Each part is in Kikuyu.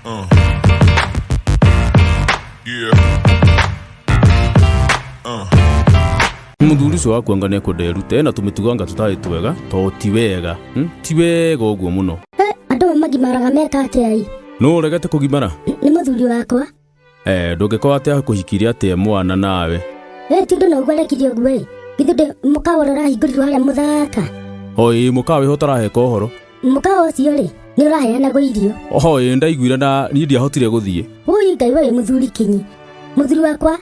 Uh. Yeah. Uh. muthuri ucio waku anga nekunderute na tumitugo anga tutari twega to ti wega hmm? ti wega uguo muno andå magimaraga meka atä ai no uregete kugimara nä må thuri wakwa Eh, ndũngĩkorwo atĩ akũhikirie atĩ e mwana nawe. Ĩ ti ũndũ na ũguo arekirie ũguo ĩ. Githĩ ndĩ mũkawa ũrĩa ũrahingũrirwo harĩa mũthaka. Oi, mũkawa wĩho ũtaraheka ũhoro. Mũkawa ũcio rĩ, nĩ ũraheanagwo irio. Oi, nĩ ndaiguire na niĩ ndiahotire gũthiĩ. Wũi Ngai wee mũthuri kinyi. Mũthuri wakwa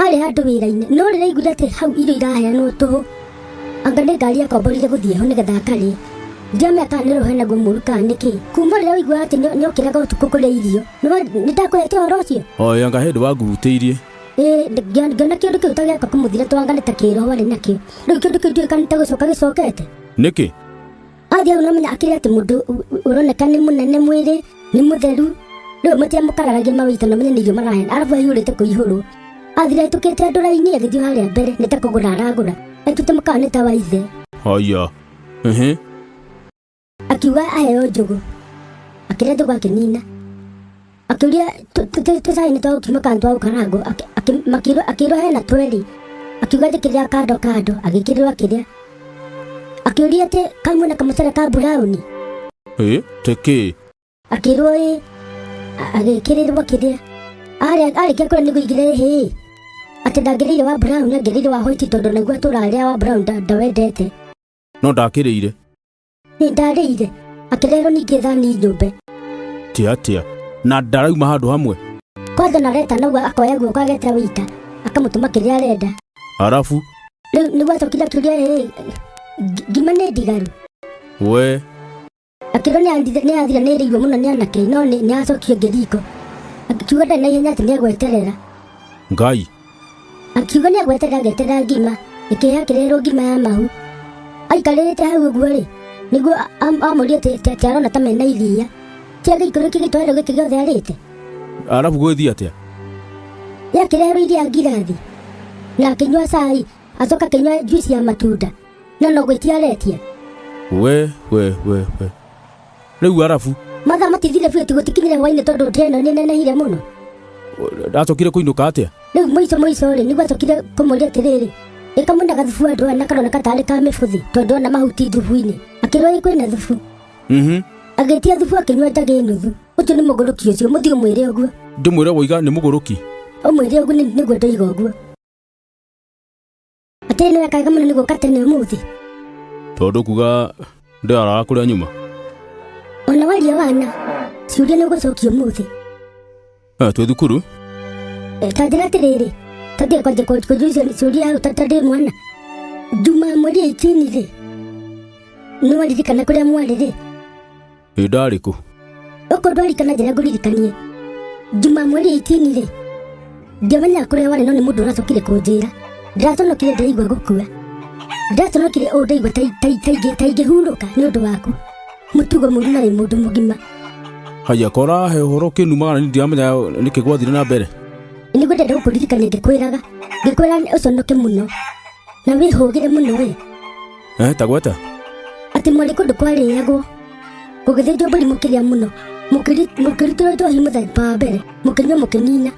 arĩ handũ wĩra-inĩ no rĩrĩa aiguire atĩ hau irio iraheanwo tũhũ anga nĩ ngari akomborire gũthiĩ ho nĩgetha akarĩe ndiamenya kana nĩ rũhana guo mũru kana nĩ kĩ kuma rĩrĩa waiguaga atĩ nĩ- nĩ ũkĩraga ũtukũ kũrĩa irio nĩ ndakwĩhete ũhoro ũcio oyo anga hĩndĩ wangurutĩirie Ĩĩ, ndi- ngĩona ngĩona kĩndũ kĩu ta gĩaka kũmũthira twangane ta kĩroho arĩ nakĩo rĩu kĩndũ kĩu ndiũĩ kana nĩ ta gũcoka gĩcokete nĩkĩ athi au namenya akĩrĩ atĩ mũndũ ũ- ũ- ũroneka nĩ mũnene mwĩrĩ nĩ mũtheru rĩu matiamũkararagia mawĩita na menye nĩ irio marahena arabu aihũrĩte kũihũrwo athira aitũkĩte andũ raini agĩthiĩ harĩa mbere nĩ ta kũgũra aragũra aitũte mũkawa nĩ ta wa ithe haya ehe akiuga aheo njũgũ akĩrĩa njũgũ akĩnina akĩũria tũcainĩ twa gũkima kana twa gũkarangwo akĩrwo hena tweri akiuga njĩkĩrĩra kando kando agĩkĩrĩrwo akĩrĩa akĩũria atĩ kamwe na kamũcere ka burauni ĩ tĩkĩ akĩrwo ĩ agĩkĩrĩrwo akĩrĩa arĩkia kũrĩa nĩguo igire hĩ atĩ ndangĩrĩire wa burauni angĩrĩire wa hoiti tondũ naguo atũra arĩa wa burauni ndawendete no ndakĩrĩire Nĩ ndarĩire. Akĩrerwo ningĩ thani nyũmbe. Tia atia. Na ndarauma handũ hamwe. Kwanza na reta nagwo akoya guoko agetera wĩita. Akamũtũma kĩrĩa arenda. Arafu. Rĩu nĩguo acokire akĩũria rĩrĩ. Ngima nĩ ndigaru. We. Akĩrwo nĩ athire nĩ ĩrĩirwo mũno nĩ anake no nĩ acokire ngĩriko. Akiuga ndarĩ na ihenya atĩ nĩ egweterera. Ngai. akiuga nĩ agwete gagete ga ngima ĩkĩrĩa kĩrerwo ngima ya mahu aikarĩte hau ũguo-rĩ nĩguo a- am- amũrie atĩ- atĩ atĩ arona ta mena iria kĩa gĩikũrũ kĩ gĩtwarĩro gĩkĩ gĩothe arĩte arabu gwĩthiĩ atĩa rĩa kĩrerwo iria ngirathi na akĩnyua cai acoka akĩnyua njuici ya matunda na no gwĩtia aretia we we we we rĩu arabu mathaa matithire biũ ti gũtikinyire hwainĩ tondũ ndĩa ĩno nĩnenehire mũno ndacokire kũinũka atĩa rĩu mũico mũico rĩ nĩguo acokire kũmũria atĩrĩrĩ ĩka mũna gathubu andũ ana karoneka tarĩ ka mĩbũthi tondũ ona mahuti thubu-inĩ akĩrwo ĩ kwĩna thubu Mhm. agĩtia thubu akĩnyua njagĩ nuthu ũcio nĩ mũgũrũki ũcio mũthiĩ ũmwĩre ũguo ndĩmwĩre woiga nĩ mũgũrũki ũmwĩre ũguo nĩ- nĩguo ndoiga ũguo atĩ nĩ wekaga mũno nĩ gũka tene ũmũthĩ tondũ kuga ndĩaraga kũrĩa nyuma ona waria wana ciũria nĩ ũgũcokia ũmũthĩ Eh, twĩ thukuru Eh, ta njĩra atĩrĩrĩ tondĩ kwanja kũnjũria icio nĩ ciũria hau ta- ta ndĩ mwana njuma mweri ĩitini rĩ nĩ waririkana kũrĩa mwarĩ rĩ ĩ ndarĩ kũ Okorwo ndwarikana njĩra ngũririkanie. Juma mweri 18 rĩ. Ndiamenyaga kũrĩa warĩ no nĩ mũndũ ũracokire kũnjĩra. Ndĩraconokire ndaigua gũkua. Ndĩraconokire ũũ ndaigua ta ta ta ingĩ ta ingĩhurũka nĩ ũndũ waku. Mũtugo mũru na rĩ mũndũ mũgima. haya kora he ũhoro kĩnumaga na niĩ ndiramenya nĩkĩ gwathire na mbere Nĩ gwendete gũkũririkania ngĩkwĩraga. Ngĩkwĩra ũconoke mũno. na wĩhũgĩre mũno rĩ Eh, tagwata atĩ mwarĩ kũndũ kwarĩagwo gũgĩthĩnjwo mbũri mũkĩrĩa mũno mũkĩri- mũkĩrutĩrwo njohi mũthemba wa mbere mũkĩnyua mũkĩnina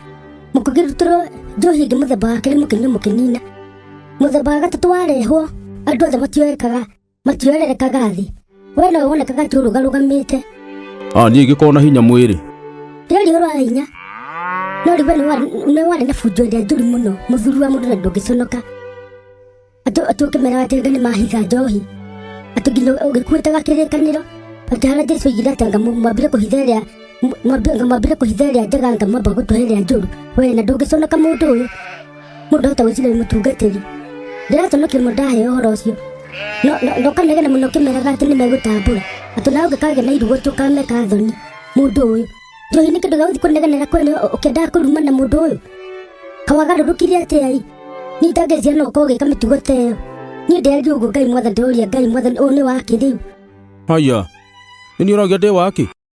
mũkĩrutĩrwo njohi ĩngĩ mũthemba wa kerĩ mũkĩnyua mũkĩnina mũthemba wa gatatũ warehwo andũ othe matioekaga matiorerekaga thĩ we no wonekaga tu ũrũgarũgamĩte a niĩ ngĩkorwo na hinya mwĩrĩ rĩarĩ ũrwa hinya no rĩu we nĩ wa- nĩ warĩ na bunjo ĩrĩa njũru mũno mũthuri wa mũndũ na ndũngĩconoka atĩ atĩ ũkĩmera atĩ ngai nĩ mahitha njohi atĩ nginya ũgĩkuĩtaga kĩrĩkanĩro atĩ harĩa jesu oigire atĩ anga mũ- mwambire kũhitha ĩrĩa mũ- mwambi- anga mwambire kũhitha ĩrĩa njega anga mwamba gũtũhe ĩrĩa njũru we na ndũngĩconoka mũndũ ũyũ mũndũ ahota gwĩciria nĩ mũtungatĩri ndĩrata no kĩmwe ndahe ũhoro ũcio No- no- ndokanegena mũno kĩmeraga atĩ nĩ megũtambũra atĩ nawe ũngĩkagĩa na irugo tũkameka thoni mũndũ ũyũ njohi nĩ kĩndũ gĩgũthiĩ kũnegenera kwene ũkĩendaga kũruma na mũndũ ũyũ kawagarũrũkire atĩa i nĩ ndangĩcia no ũkorwo ũgĩka mĩtugo ta ĩyo niĩ ndĩagi ũguo ngai mwathani ndĩũria ngai mwathani ũyũ nĩ wa kĩrĩu haya nĩ ũroria ndĩ waki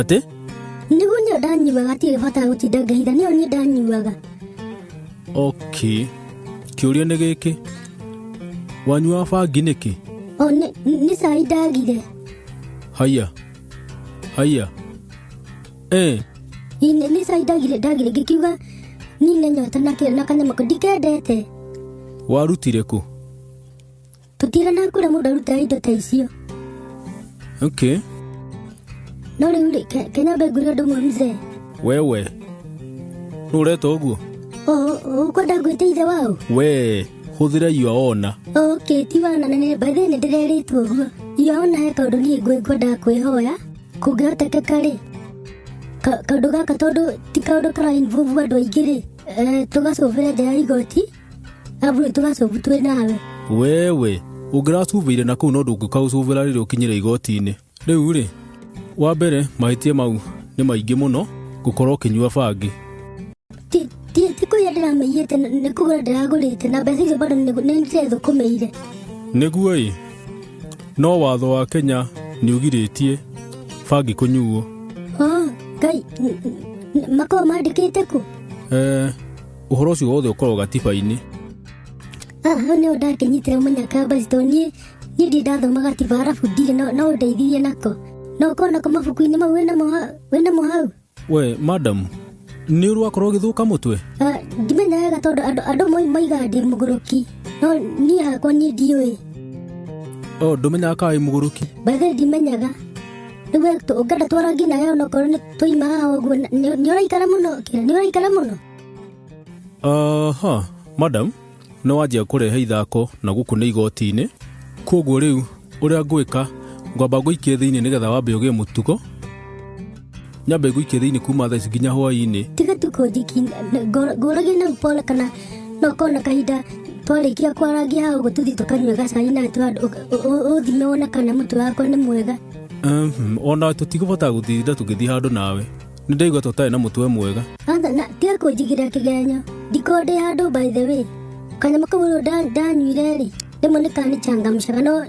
atĩ nĩguo nĩyo ndanyuaga atirĩ bata gũtinda ngahitha nĩyo niĩ ndanyuaga okay kĩũria nĩ gĩkĩ wanyua bangi nĩkĩ o nĩ- nĩ cai ndagire haya haya eh Ĩ, nĩ nĩ cai ndagire ndagire ngĩkiuga nine nyota na kĩrĩ na kanyama ko ndikendete warutire kũ tũtira na kura mũndũ arutaga indo ta icio okay no rĩu rĩ ke- kenyambe ngũre ũndũ ũmwe mzee wewe nũ ũreta ũguo O- o- ũkwenda ngwĩte ithe wao wee hũthĩra iwa ona okay ti wana na nĩ mbathĩ nĩ ndĩrerĩtwo ũguo iona he kaũndũ niĩ ngwĩ ngwendaga kwĩhoya kũngĩhotekeka rĩ ka- kaũndũ gaka tondũ ti kaũndũ kara involve andũ aingĩ rĩ eh, tũgacũbĩra nja ya igoti Abure tugaca ubu twĩ nawe. wewe ũngĩracubĩire na kũu no ndũngĩkaũcubĩra rĩrĩa ũkinyĩre igoti-inĩ rĩu rĩ wa mbere mahĩtia mau nĩ maingĩ mũno gũkorwo ũkĩnyua bangi Ti ti ti kũrĩa ndĩramĩiyĩte na- nĩ kũgũra ndĩragũrĩte na mbeca icio bado nĩ nĩ ndĩrethũkũmĩire. nĩguo ĩ no watho wa kenya nĩ ũgirĩtie bangi kũnyuo Oh, Ngai, n- n- makoragwo mandĩkĩte kũ? eh, ũhoro ũcio wothe ũkoragwo gatiba-inĩ haha nĩ ũndangĩnyitire ũmenya kambasi tondũ niĩ niĩ ndiĩ ndathoma gatiba arabu ndirĩ no- no ũndeithirie nako na ũkorwo nako mabuku-inĩ mau wĩ namo ha- wĩ namo hau we madamu nĩ ũrwakorwo ũgĩthũka mũtwe Ah, ndimenya wega tondũ andũ andũ amwe maigaga ndĩ mũgũrũki no niĩ hakwa niĩ ndiũĩ o ndũmenyaga kaĩ mũgũrũki bathe ndimenyaga rĩu ũngenda twara nginya we onokorwo nĩ twaima haha ũguo nĩ ũraikara mũno kĩra nĩ ũraikara mũno aha madam nä wanjia kå rehe ithako na gå kå nä igoti-inä koguo rä u å rä a ngwä ka ngwamba ngå ikie thä inä nä getha wambe å gä e må tugo nyambe ngå ikie thä inä kuma thaici nginya hwainä tiga tukundiki ngũragie na mpola kana no kona kahinda twarĩkia kwarangia hau ũguo tũthiĩ tũkanyua gacai na ũthime wona kana mũtu wakwa nĩ mwega ona tũtigũbatara gũtinda tũgĩthiĩ handũ nawe Nĩ ndaigua ta ũtarĩ na mũtwe mwega. Ratha na tiga kũnjigĩra kĩgenyo. Ndiko ndĩ handũ by the way. Kanyamũ kau rĩu nda- ndanyuire rĩ, rĩmwe nĩ kanichangamshaga no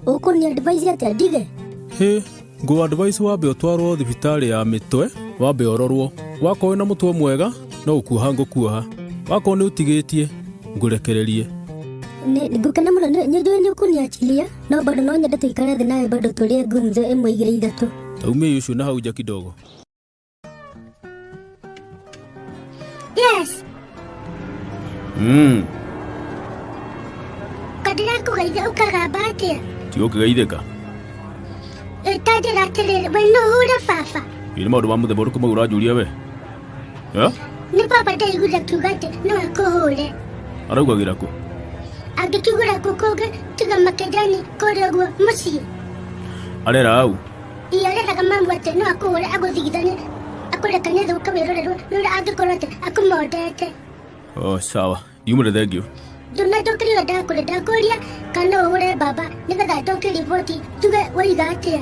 ũkũni advice atĩa ndige? Hĩ, ngũ advice wambe ũtwarwo thibitarĩ ya mĩtwe, wambe ũrorwo. Wakorwo wĩna mũtwe mwega, no gũkuoha ngũkuoha. Wakorwo nĩ ũtigĩtie, ngũrekererie. Nĩ ngũkena mũno nĩ nĩ njũĩ nĩ ũkũniachilia. no bado no nyende tuikare thĩ nawe bado tũrĩe gumzo ĩmwe igĩrĩ ithatũ Umia Yushu na hauja kidogo. yes Mm. kadirakũgeitha ũkagamba atĩa Tigo kigaitheka. ĩtanjĩra atĩrĩrĩ we no hũre baba Iri maundu ma muthemba uriku mau uranjuria we. Eh? nĩ baba ndaiguire akiuga atĩ no akũhũre araugagĩra kũ angĩkĩgũra kũ kũngĩ tiga makendani kũrĩa guo mũciĩ arera au iyo areraga mamu atĩ no akũhũre agũthigithanie akũrekanie thũka wĩrorerwo nĩ ũrĩa angĩkorwo atĩ akũmondete o sawa yumre thank you ndona ndokĩrĩra ndakũrĩ ndakũria kana ũhũre baba nĩgetha ndoke riboti tuge waiga atĩa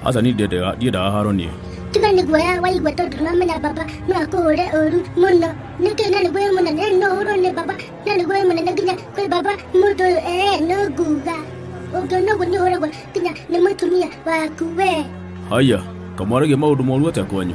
aca ni ndiendaga haro niĩ tiga nĩ guoya waigua tondũ ndũramenya baba no akũhũre ũru mũno nĩkĩ na nĩ guoya mũnene no ũhũrwo nĩ baba na nĩ guoya mũnene nginya kwĩ baba mũndũ ũyũ ee no nguga ũngĩona ũguo nĩ ũhũragwo nginya nĩ mũtumia waku wee haya kamwaragia maũndũ moru atĩa kwanyu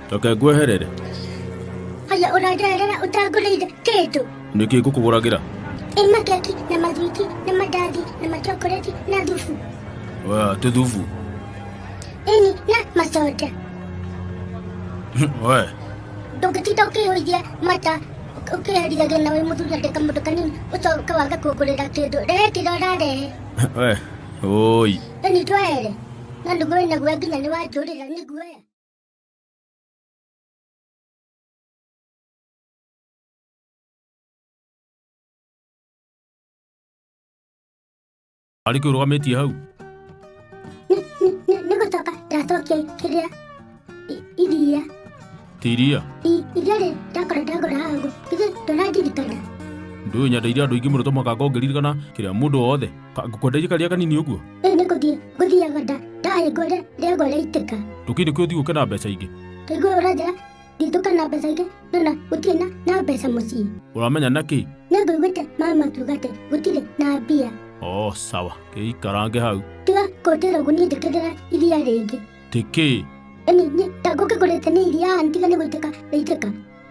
reke ngweherere haya ũranderera ũtangũrĩire kĩndũ nĩkĩ ngũkũgũragĩra ĩ makeki na mathwiti na mandathi na machokoreti na thubu Oya, tũthubu ĩni na macoda we ndũngĩtinda ũkĩhũithia mata ũkĩherithagia na wĩ mũthuri andĩka mũndũ kanini ũcoka waga kũngũrĩra kĩndũ rehe kĩrĩa ũrarehe we oi ĩni twaere na nĩguo ĩnaguo nginya nĩ wanjũrĩra nĩguoya Arĩ kĩu rũgamĩtie hau. Nĩ gũcoka ndacokia kĩrĩa i- iria. Tiria. I- Iria rĩ ndakora ndagũra haha ũguo. Githĩ ndũrandirikana? Ndũĩ nyendeire andũ aingĩ mũno to mũhaka ngorwo ngĩririkana kĩrĩa mũndũ wothe. ngũkwenderie karĩa kanini ũguo rĩu nĩ gũthiĩ ngũthiaga nda ndaĩ ngore rĩagwa rĩaitĩka tũkĩrĩ kĩ ũthiĩ gũke na mbeca ingĩ ndaigua ũranjĩra nditũka na mbeca ingĩ no na gũtirĩ na na mbeca mũciĩ ũramenya na kĩ nĩ ngũiguĩte mama akiuga atĩ gũtirĩ na mbia o sawa kĩikarange hau tiga kũnjĩra ũguo niĩ njĩkĩrĩra iria rĩngĩ tĩ kĩ ĩni niĩ ta ngũkĩgũrĩte nĩ iria ntiga nĩ gũitĩka rĩitĩka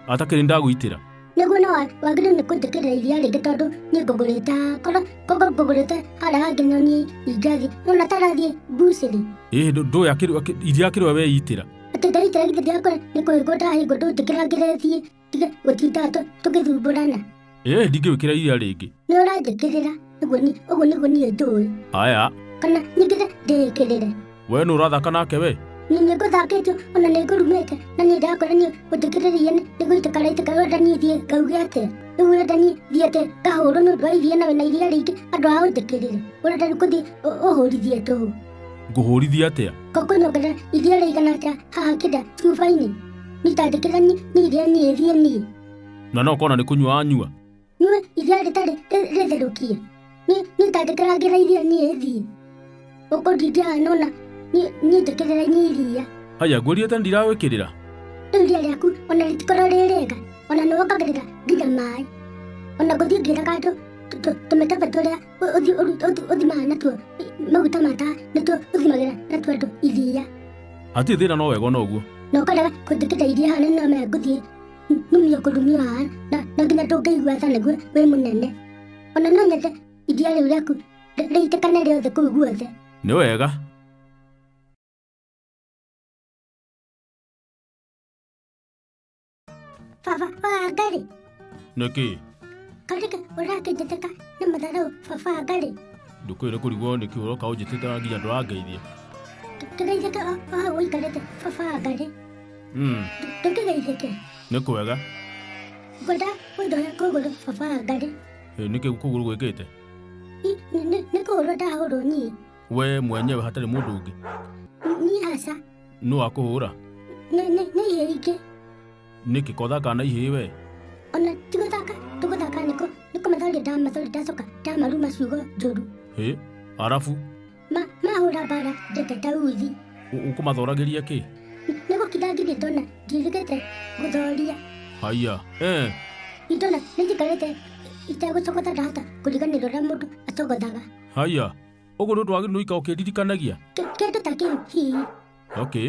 atakĩrĩ ndagũitĩra nĩguo no wagĩrĩirwo nĩ kũnjĩkĩrĩra iria rĩngĩ tondũ niĩ ngũgũrĩte hakora koguo ngũgũrĩte harĩa hangĩ no niĩ ingĩathiĩ no na tarathiĩ mbucĩrĩ ĩĩ ndũ- ndũĩ akĩrĩ- akĩ- iria akĩrĩ we weitĩra atĩ ndaitĩra githĩ yakwa nĩ kũhingwo ndahingwo ndũnjĩkĩra ngĩre thiĩ tige gũtinda tũ- tũgĩthumbũrana ĩĩ ndingĩwĩkĩra iria rĩngĩ nĩ ũranjĩkĩrĩra ũguo ni- ũguo nĩguo niĩ njũĩ aya kana nyingĩre ndĩĩkĩrĩre we nĩ ũrathaka nake we nĩ nĩ ngũthakĩtio ona nĩ ngũrumĩte na nĩ ndakora niĩ ũnjĩkĩrĩrie nĩ nĩ gũitĩka raitĩka wenda niĩ thiĩ ngauge atĩa rĩu wenda niĩ thiĩ atĩ ngahũrwo nĩ ũndũ wa iria na wĩna iria rĩingĩ andũ a ũnjĩkĩrĩre ũrenda rĩu kũthiĩ ũ- ũhũrithie tũhũ ngũhũrithia atĩa kokonyongera iria rĩigana atĩa haha kĩnda cuba-inĩ nitandĩkĩra niĩ iria niĩ thiĩ niĩ na no kona nĩ kũnyua anyua Nue iria rĩtarĩ rĩtherũkie. Nĩ nĩ tangĩkĩra ngĩraithia niĩ thiĩ. Ũkũ ndingĩaga nona niĩ niĩ njĩkĩrĩra niĩ iria. Haya, ngũrie tena ndiragwĩkĩrĩra. Rĩu iria rĩaku ona rĩtikorwo rĩ rĩega. Ona nĩ wongagĩrĩra nginya maĩ. Ona ngũthiĩ ngĩraga andũ tũ- tũ- tũmĩkebe tũrĩa ũ- ũthi- ũru- ũthi- ũthimaga natuo i- maguta ma tawa nĩtuo ũthimagĩra natuo andũ iria. Hatirĩ thĩna no wega ona ũguo. Na ũkarega kũnjĩkĩra iria harĩa nĩ ngũthiĩ nyumire kũndumĩra haha na na nginya ndũngĩigua tha nĩguo wĩ mũnene ona no nyende iria rĩu rĩaku rĩ- rĩitĩkane rĩothe kũu guothe nĩ wega baba wangarĩ nĩkĩ karĩka ũrakĩnjĩtĩka nĩ matharau baba wangarĩ ndũkwĩre kũrigwo nĩkĩ ũroka ũnjĩtĩte nginya ndũrangeithia kĩraithĩka o hau ũikarĩte baba wangarĩ Mm. ndũkĩgeithĩke nä kwega ngwenda ũndoya kũgũrũ baba wa ngarĩ Ĩ, nä kä kå gå rå gwä kä te I- nĩ- nĩ- nĩ kũhũrwo ndahũrwo niĩ we mwenyewe hatarä må ndå å ngä niĩ aca nä wakå hå ra nĩ nĩ- nĩ ihĩ ingĩ nä kä kothaka na ihä we ona ti gũthaka tũgũthaka nĩko nĩkũmathori ndamathori ndacoka ndamaruma ciugo njũru Ĩ, arabu ma mahũra mbara njete ndauthi Ũ- ũkũmathoragĩria kĩ nĩ gũkitha ngithiĩ ndona ndiĩthĩkĩte gũthoria haiya eh. itona nĩ njikarĩte itegũcogotha ndahota kũriganĩrwo ũrĩa mũndũ acogothaga haiya ũguo nĩ ũndũ wa gĩnũika ũkĩndirikanagia Kĩ- kĩndũ ta kĩu hihi okay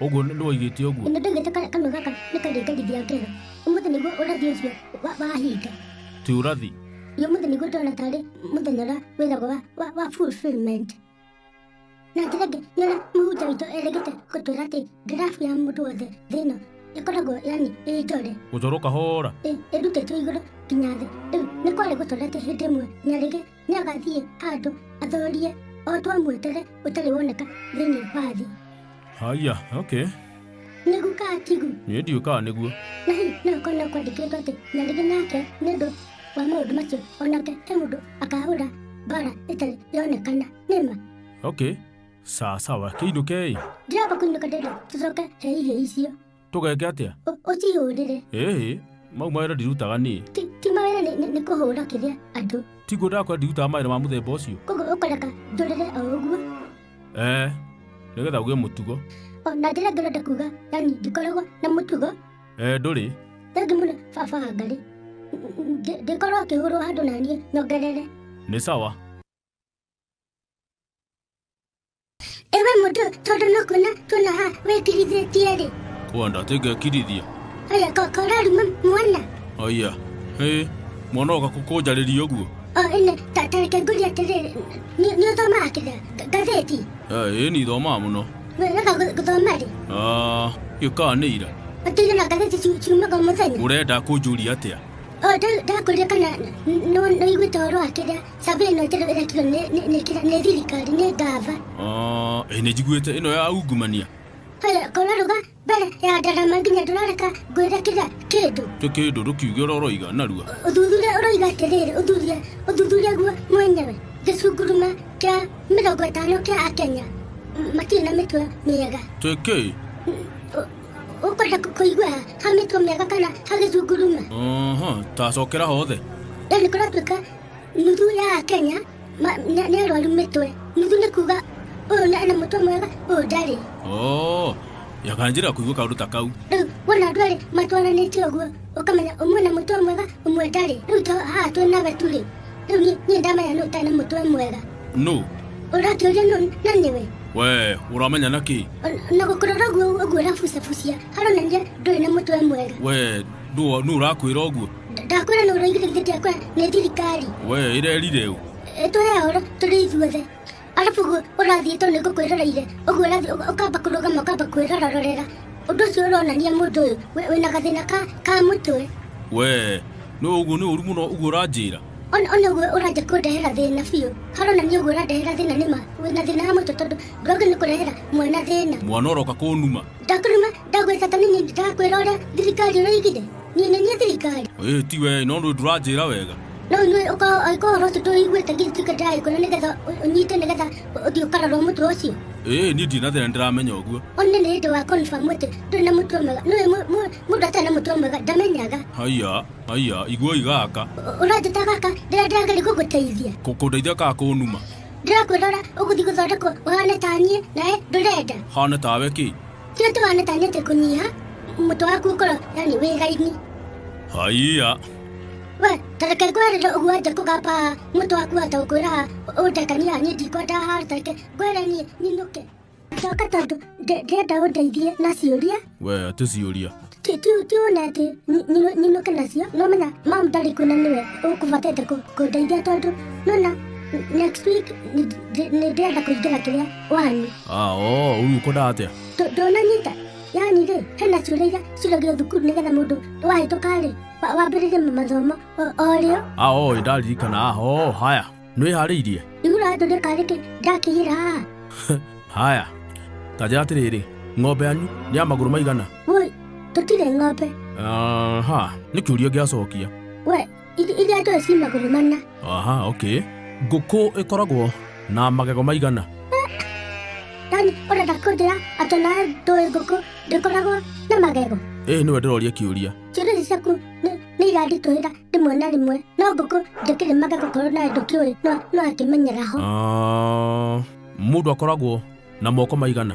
ũguo nĩ woigĩte ũguo nĩ ndaigĩte ka- kanua gaka nĩ karĩngarithia ngero ũmũthĩ nĩguo ũrathi ũcio wa- wahinga ti ũrathi Iyo mũthenya nĩguo ndona tarĩ mũthenya ũrĩa wĩragwo wa, wa, wa fulfillment na njĩra ĩngĩ nĩona mũhunjia witũ erĩgĩte gũtwĩra atĩ ngirabu ya mũndũ wothe thĩ ĩno ĩkoragwo yani ĩ njore gũcoro kahora ĩ- ĩrutĩtwo igũrũ nginya thĩ rĩu nĩ kwarĩ gũtwĩra atĩ hĩndĩ ĩmwe nyarĩgĩ Nĩagathiĩ handũ athorie o twamwetele ũtarĩ woneka thĩinĩ wa thĩ. Haya, okay. Nĩgu kaa tigu, Niĩ ndiũ kaa nĩguo. na hihi no akorwo no kwandĩkĩtwo atĩ nyarĩrĩ nake nĩ ũndũ wa maũndũ macio onake he mũndũ akahũra mbara ĩtarĩ yonekana nĩma Okay. Sawa sawa, kĩinũke ĩ. ndiramba kũinũka ndĩrenda tũcoke heihĩ icio tũgeke atĩa Ũ- ũcihũrĩre ĩĩ mau mawĩra ndirutaga niĩ ti ti mawĩra nĩ- nĩ- nĩ kũhũra kĩrĩa andũ tiguo ndakwa ndirutaga mawĩra ma mũthemba ũcio koguo ũkareka ndũrĩre o ũguo ee nĩgetha ũgĩe mũtugo o na njĩra ngĩrenda kuga yani ndikoragwo na mũtugo ee ndũrĩ thengi mũno baba ngarĩ Ndĩ- ndĩkorwo akĩhũrwo handũ na niĩ nyongerere nĩ sawa ewe mũndũ tondũ no kuona tuona ha wĩkirithĩtie rĩ kwenda tingekirithia oya kokora ruma mwana aya ĩ mwana oka kũnjarĩria ũguo o ĩne tareke ngũri atĩrĩrĩ nĩ nĩ ũthomaga kĩrĩa nga- ngathĩti ĩ nĩ ithomaa mũno wega gũthoma rĩ Ah, gĩkaa nĩ ira ũtĩire na ngathĩti ciu- ciumaga o mũthenya ũrenda kũnjũria atĩa o ndakũria kana nĩwĩiguĩte ũhoro wa kĩrĩa Sambia ino njero ira kiro ne ne ne kira ne thirikari ne gava. Ah, eh, nĩ njiguĩte ĩno ya ungumania Kore kore ruga bere ya darama nginya durareka gwira kira kindu. tĩ kĩndũ ndũkiuge ũrĩa ũroiga narua Uthuthuria uroiga atiriri uthuthuria uthuthuria guo mwenyewe gicunguruma kia mirongo itano kia akenya M- matirĩ na mĩtwe mĩega. tĩ kĩ Ũkwenda kũ- kũigua ha ha mĩtwe mĩega kana ha gĩcunguruma? Aha, tacokera hothe Rĩu nĩ kũratuĩka nuthu ya akenya ma- nĩ nĩ arwaru mĩtwe nuthu nĩ kuga ũyũ nĩ ena mũtwe mwega ũyũ ndarĩ oo yakanjĩra kũigua kaũndũ ta kau rĩu wona andũ erĩ matwaranĩtie ũguo ũkamenya ũmwe na mũtwe mwega ũmwe ndarĩ rĩu to haha twĩ na wetu rĩ rĩu niĩ- niĩ ndamenya nũ ũtarĩ na mũtwe mwega nũ ũrakĩũria nũ na nĩwe we ũramenya na kĩ O- na gũkũrora ũguo ũguo ũrabucabucia haronania ndũrĩ na mũtwe mwega we nũ nũ ũrakwĩra ũguo ndakwĩra nũrũ igirĩgithĩtie kwa nĩ thirikari we ĩrerire ũ tũhe horo tũrĩ ithuothe arabu gu- ũrathiĩ tondũ nĩ ngũkwĩroreire ũguo ũrathiĩ ũka- ũkamba kũrũgama ũkamba kwĩrororera ũndũ ũcio ũronania mũndũ ũyũ wĩ- wĩna gathĩna ka ka mũtwe we no ũguo nĩ ũru mũno ũguo ũranjĩra ona ona ũguo ũranja kũndehera thĩna biũ haronania ũguo ũrandehera thĩna nĩma wĩna thĩna wa mũtwe tondũ ndwagĩ nĩ kũrehera mwana thĩna mwana ũroka kũnuma ndakũruma ndagwĩka ta nini ndĩrakwĩra ũrĩa thirikari ũraigire niĩ nĩ niĩ thirikari ĩĩ ti wee no ndũ ndũranjĩra wega no inyuĩ ũkorwo angĩkorwo ũhoro ũcio tũiguĩte ngĩtuĩka ndĩraĩkwĩra nĩgetha ũ- ũnyite nĩgetha ũthiĩ ũkarorwo mũtwe ũcio ĩĩ niĩ ndirĩ na thĩna ndĩramenya ũguo one nĩ hĩndĩ wa confirm atĩ ndũrĩ na mũtwe mwega nĩũĩ mũ- mũ- mũndũ atarĩ na mũtwe mwega ndamenyaga haiya haiya iguoi gaka Ũ- ũranjĩta gaka ndĩra ndĩrageria gũgũteithia Kũ- kũndeithia kaa kũnuma ndĩrakwĩrora ũgũthiĩ gũthondekwo ũhane ta niĩ nawe ndũrenda hane tawe kĩ Kĩrĩa tũhana ta nĩte kũnyiha, mũtwe waku ũkorwo yani wĩ gaithi. Haiya. We, tareke ngwerere ũguo nja kũgamba mũtwe waku wata ũkwĩra ũndekania niĩ ndikwenda haha tareke ngwere niĩ ninũke. Ndoka tondũ ndĩ- ndĩrenda ũndeithie na ciũria. We, atĩ ciũria. ti ti ti onete nyinuke nacio nomenya mam ndarĩ kuna nĩwe ũkũbatete kũndeithia tondũ nona next week nĩ ndĩrenda kũingĩra kĩrĩa wani ũyũ ũkwendaga atĩa ndũnanyita yani rĩ hena ciũria iria ciũragio thukuru nĩgetha mũndũ wahĩtũka rĩ wambĩrĩrie mathomo orĩo ĩndaririkana aho haya nĩwĩharĩirie nĩũrathondeka rĩkĩ ndakĩgĩra haha haya tanja atĩrĩrĩ ng'ombe yanyu nĩ ya magũrũ maigana woi tũtirĩ ng'ombe aha nĩ kĩũria ngĩacokia we ithi- iria njoe ci magũrũ mana aha okay ngũkũ ĩkoragwo na magego maigana yani ũrenda kũnjĩra atĩ nawe ndũĩ ngũkũ ndĩkoragwo na magego ĩĩ nĩwe ndĩroria kĩũria ciũria ici ciaku nĩ- nĩ iranditũhĩra rĩmwe na rĩmwe no ngũkũ ndĩkĩrĩmaga gũkorwo nawe ndũkĩũĩ no no akĩmenyera ho Ah, mũndũ akoragwo na moko maigana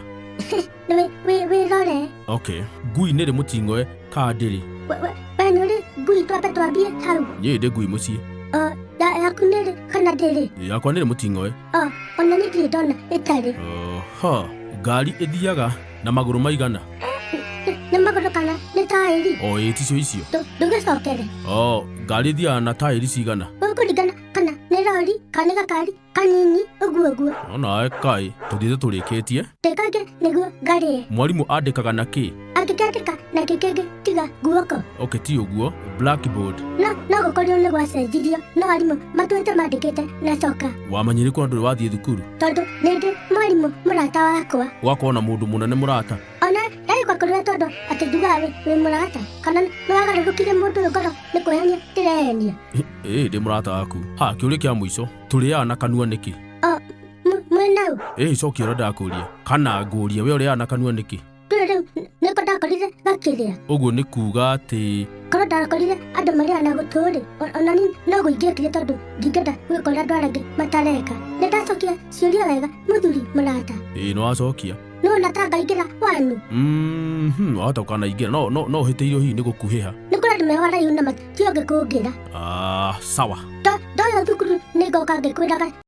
Nĩ wĩ- wĩ- wĩrore okay ngui nĩrĩ mũting'oe kaa ndĩrĩ We- we- we nĩ ũrĩ ngui twambe twambie hau niĩ ndĩ ngui mũciĩ Ɔ, ya- yaku nĩrĩ kana ndĩrĩ yakwa nĩrĩ mũting'oe Ɔ, ona niĩ ndirĩ ndona ĩtarĩ ha ngari ĩthiaga na magũrũ maigana nĩ magũrũ kana nĩ taĩri o ĩti cio icio Ndũ- ndũgĩcokere o ngari thiaga na taĩri cigana ũkũringana kana nĩ rori kana nĩ gakari kanini ũguo ũguo onawe kaĩ tũthiĩte tũrĩkĩtie tĩkangĩ nĩguo ngarĩe mwarimũ andĩkaga na kĩ angĩkandĩka na kĩkĩngĩ tiga guoko okay ti uguo blackboard no no gukorio ni gwacenjirio no arimũ matuĩte mandĩkĩte na coka wamanyire kuna ndũrĩ wathiĩ thukuru tondũ nĩndĩ mwarimũ mũrata wakwa gwakorwo na mũndũ mũnene mũrata ona ndagĩgwakorire tondũ atĩ ndugaga wĩ wĩ mũrata kana nĩwagarũrũkire mũndũ ũyũ ngoro nĩ kwĩhenia ndĩrehenia ĩĩ ndĩ mũrata waku ha kĩũria kĩa mũico tũrĩaga na kanua nĩkĩ o mwenau ĩĩ cokia ũrĩa ndakũria kana ngũria we ũrĩaga na kanua nĩkĩ Rĩrĩ rĩu nĩko ndakorire gakĩrĩa. ũguo nĩ kuuga atĩ Korwo ndakorire andũ marĩa na gũtũ-rĩ, o- ona niĩ no gũingĩkire tondũ ndingĩenda gwĩka ũrĩa andũ arĩa angĩ matareka. Nĩ ndacokia ciũria wega mũthuri mũrata. ĩĩ nĩwacokia No na ta ngaingĩra wanyu. Mhm, wahota ũkanaingĩra no no no ũhĩtĩirio hihi nĩ gũkuhĩha Nĩ kũrĩ andũ meho araihu na mationge kũngĩra. ah, sawa To ndoya thukuru nĩ ngoka ngĩkwĩraga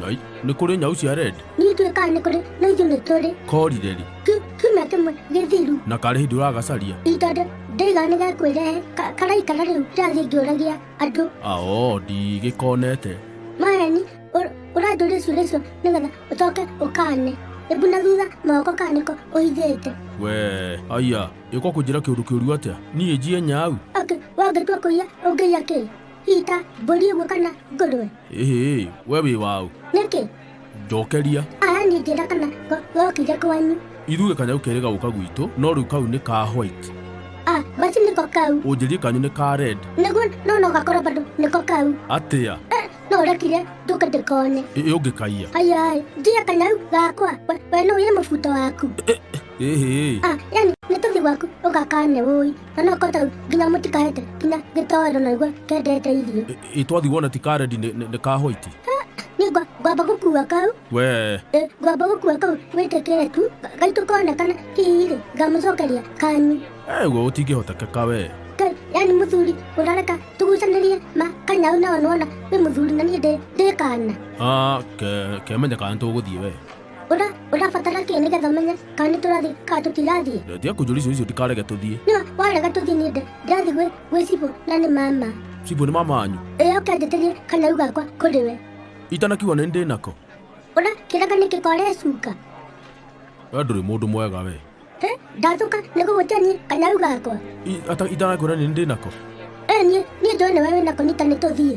Ngai, nĩ kũrĩ nyau cia red Niĩ ndiũĩ kana nĩ kũrĩ no ithuĩ nĩ tũrĩ korire rĩ Ki- kiumia kĩmwe gĩthiru na karĩ hĩndĩ ũragacaria ihinda ndĩ- ndĩigana nĩ gakwĩrehe ka- karaikara rĩu ndĩrathiĩ ngĩũragia andũ ao ndigĩkonete maheni ũr- ũranjũria ciũria icio nĩgetha ũcoke ũkane ĩbu na thutha moko kana nĩko ũhithĩte we aya ĩko kũnjĩra kĩũndũ kĩũru atĩa niĩ njie nyau Ake, wangĩtua kũiya ũngĩiya kĩ hihi ta mbũri ĩmwe kana ngũrwe Ĩhĩ, we wĩ waũ? Nĩkĩ? Njokeria. Aya niĩ ngĩra kana go- gokire kwanyu. Ithuĩ kanyau kerĩ gagũka gwitũ, no rĩu kau nĩ ka white. Ah, basi nĩko kau. Ũnjĩrie kanyu nĩ ka red. Nĩguo no no gakorwo bado nĩko kau. Atĩa? Eh, no ũrekire ndũke ndĩkone. Ĩ- Ũngĩkaiya. Ayai, ngiya kanyau gakwa. We, we no ũye mũbuto waku. Ĩhĩ. Ah, yani nĩ tũthi gwaku ũgakane ũi. na no kota nginya må tikarete nginya gä toro na igua kendete irio Ĩ- ĩ twathiĩ wona ti karedi nĩ- nĩ nĩ kahoiti nä ngwamba gå kua kau we Ĩ, ngwamba gå kua kau wä tä kä re tu gaitå konekana hihi rä ngamå cokeria kanyu eguo gũtingĩhotekeka we Ngai, yani må thuri å rareka tå gucanä rie ma kanyau nao nona wä må thuri na niä ndä kana Ah, ke- kemenyeka nĩ tũgũthiĩ we Ura, ũrabatara kĩ nĩgetha ũmenye kana nĩ tũrathiĩ kana tũtirathiĩ ndetia kũnjũria icio icio ndikarege tũthiĩ nĩwa warega tũthiĩ nĩ ndĩ ndĩrathiĩ gwĩ gwĩ cibũ na nĩ mama cibũ nĩ mama wanyu ĩyo ũkĩanjĩtĩrie kana rĩu gakwa kũrĩ we itanakiuga nĩ ndĩ nako ũra kĩraka nĩ kĩkore cuka we ndũrĩ mũndũ mwega we he ndathũka nĩ gũgũtia niĩ kana rĩu gakwa I- ata- itanakwĩra nĩ ndĩ nako ĩ niĩ niĩ njũĩ nĩ we wĩ nako nita nĩ tũthiĩ